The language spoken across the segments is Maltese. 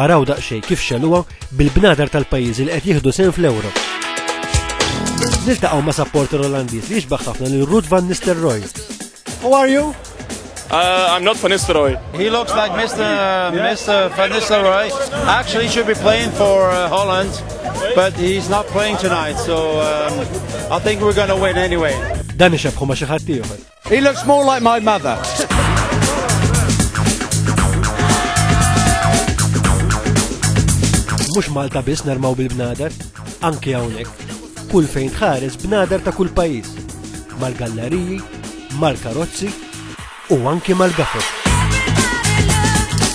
Araw daqsxejn kif xeluha bil-bnadar tal-pajjiżi li qed jieħdu sehem fl-Ewro. Niltaqgħu ma' supporter Olandiż li jixbaħ ħafna lil Ruud van Nistelrooy. Who are you? Uh, I'm not Van Nistelrooy. He looks like Mr. Uh, Mr. Van Nistelrooy. Actually, he should be playing for uh, Holland, but he's not playing tonight, so um, I think we're going to win anyway. Dan ixebħu ma xi ħadd ieħor. He looks more like my mother. Mhux Malta biss narmaw bil-bnader, anke hawnhekk. Kull fejn tħares bnader ta' kull pajjiż. Mal-galleriji, mal-karozzi u anke mal-gafet.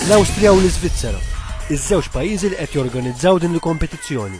L-Awstrija u l-Iżvizzera, iż-żewġ pajjiżi li qed jorganizzaw din il-kompetizzjoni.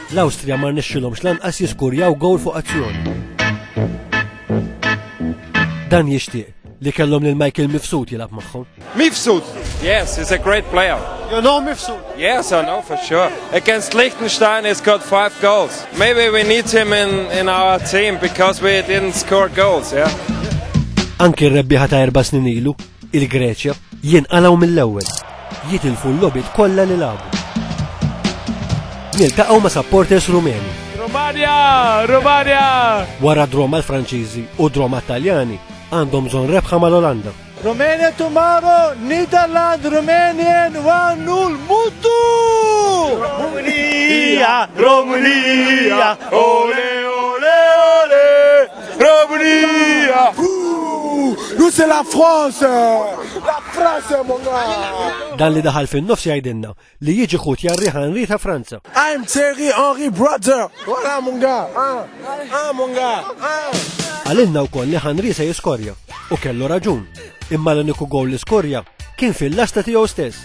L-Awstrija ma rnexxilhomx lanqas jiskurjaw gowl fuq azzjoni. Dan jixtieq li kellhom lil Michael Mifsud jilgħab magħhom. Mifsud? Yes, he's a great player. You know Mifsud? Yes, I know for sure. Against Liechtenstein he's got five goals. Maybe we need him in, in our team because we didn't score goals, yeah? Anki r-rebbieħa ta' erba' snin ilu, Il-Greċja jinqalgħu mill-ewwel. Jitilfu l-logħbiet kollha li lagħbu. Niltaqgħu ma' supporters Rumeni. Rumania! Rumania! Wara draw mal-Franċiżi u draw mat-Taljani għandhom bżonn rebħa mal-Olanda. Romania tomorrow, Netherlands, Romanian, one nul, mutu! Romania, Romania, ole, ole, ole! Romania! Nous c'est la France! La France mon gars! Dan li daħal fin-nofs jgħidilna li jiġi ħut jarri ħanri ta' Franza. I'm Thierry Henry brother! Wara mon gars! Ah, ah mon gars! Ah. Għalinna wkoll li ħanri se jiskorja u kellu raġun. Imma l-uniku gowl li skorja kien fil-lasta tiegħu stess.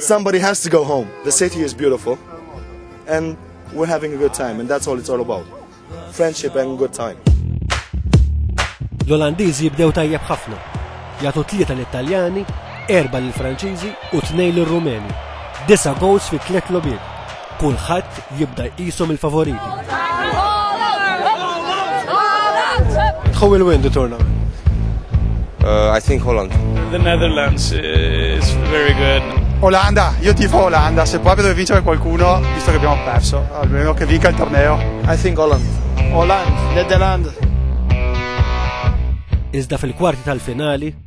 Somebody has to go home. The city is beautiful and we're having a good time and that's all it's all about. Friendship and good time. L-Olandiż jibdew tajjeb ħafna. Jagħtu tlieta l-Italjani, erba' l-Franċiżi u tnejn l-Rumeni. Disa goals fi tliet lobiet. kulħadd jibda jqishom il-favoriti. Who will win the tournament? Uh, I think Holland. The Netherlands is very good. Olanda, io tifo Olanda, se poi vedo vincere qualcuno, visto che abbiamo perso, almeno che vinca il torneo. I think Holland. Holland, Netherlands. Iżda fil-kwarti tal-finali,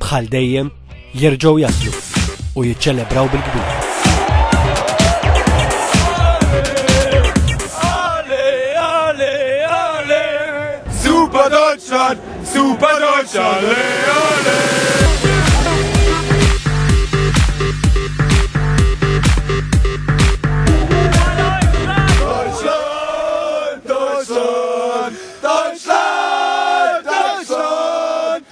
bħal dejjem, jerġgħu jaslu u jiċċelebraw bil-kbir. Super Deutschland, Super Deutschland, le, le.